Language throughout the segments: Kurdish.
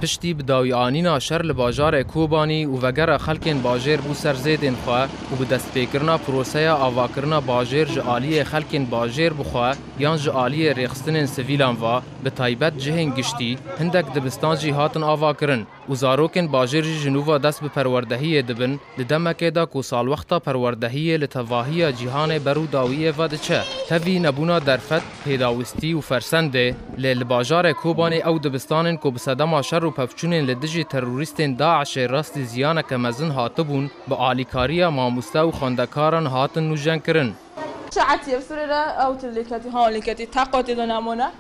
Piştî bi dawî anîna şer li bajarê Kobanî û vegera xelkên bajêr bû ser zêdên xwe û bi destpêkirina proseya avakirina bajêr ji aliyê xelkên bajêr bi xwe yan ji aliyê rêxistinên sivîlan ve bi taybet cihên giştî hindek dibistan jî hatin avakirin. û zarokên bajêr jî ji nû ve dest bi perwerdehiyê dibin, di demekê de ku salwexta perwerdehiyê li tevahiya cîhanê ber û dawiyê ve diçe tevî nebûna derfet, pêdawistî û fersendê, lê li bajarê Kobanê ew dibistanên ku bi sedema şer û pevçûnên li dijî terorîstên DAIŞ'ê rastî ziyaneke mezin hatibûn, bi alîkariya mamoste û xwendekaran hatin nûjenkirin. Şaetiyê bi Sûrê re ew tune lêketî, ha lêketî teqetî de nemûne,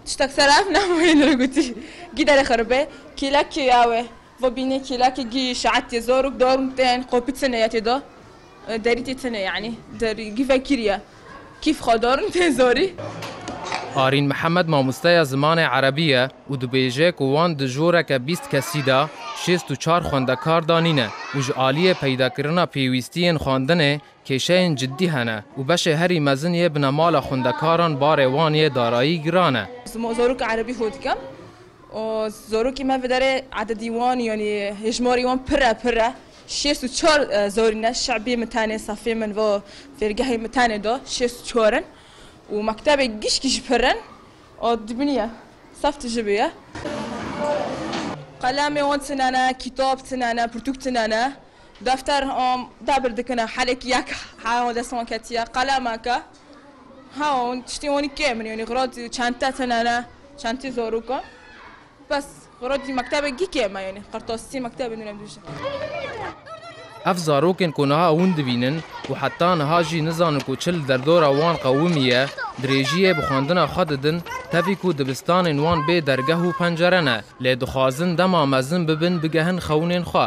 Tiştek ser ev nameyê li re gotî. Gîderê xwe re be, kêlek kê ya we? Ve bînê kêlekê gî şeet yê zor û dorm tên, qopî tine ye tê de, derî tê tine yanî, derî gî vekîr ye. Kîf xwe dorm tên zorî. Arîn Mihemed mamosteya zimanê erebî ye û dibêje ku wan di joreke bîst kesî de şêst û çar xwendekar danîne û ji aliyê peydakirina pêwîstiyên xwendinê Kêşeyên cidî hene û beşê herî mezin yê binemala xwendekaran barê wan yê darayî giran e. Zarokê erebî fêr dikim û zarokê me viderê ededî wan yanî hêjmarî wan pir e pir e. Şêst û çar zarî ne şebî min tenê sefê min va fêrgehê min tenê da şêst û çar in û mektebê gişkî jî pir in û dibînî ye sef tije bê ye. Qelemê wan tune ne, kîtab tune ne, pirtûk tune ne. Defter hom dabir dikine helek yek hewn dest wan ketiye qalemeke hewn tiştê wanî kêm in yanî xira dî çente tine ne çentî zarok in bes xira dî mektebê gî kêm e yanî qirtasî mektebê nûne dûşe. Ev zarokên ku niha hûn dibînin û heta niha jî nizanin ku çi li derdora wan qewimî ye dirêjiyê bi xwendina xwe didin tevî ku dibistanên wan bê dergeh û pencere ne lê dixwazin dema mezin bibin bigehin xewnên xwe.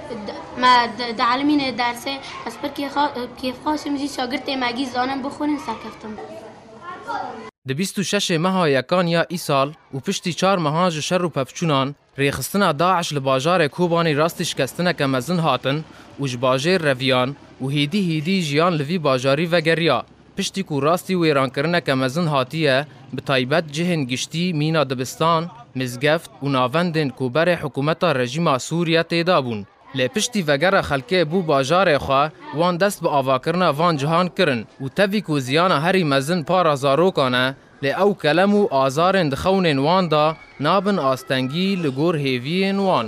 Me dielîmîne dersê ez pir kêfxweş im jî şagirtê me gî zanin bixwînin serkeftin bû. Di bîst û şeşê meha yekan ya îsal û piştî çar mehan ji şer û pevçûnan, rêxistina DAIŞ li bajarê Kobanî rastî şikestineke mezin hatin û ji bajêr reviyan û hêdî hêdî jiyan li vî bajarî vegeriya. Piştî ku rastî wêrankirineke mezin hatiye, bi taybet cihên giştî mîna dibistan, mizgeft û navendên ku berê hikûmeta rejîma Sûr ye tê de bûn. Lê piştî vegera xelkê bo bajarê xwe, wan dest bi avakirina van cihan kirin û tevî ku ziyana herî mezin para zarokan e, lê ew kelem û azarên di xewnên wan de nabin astengî li gor hêviyên wan.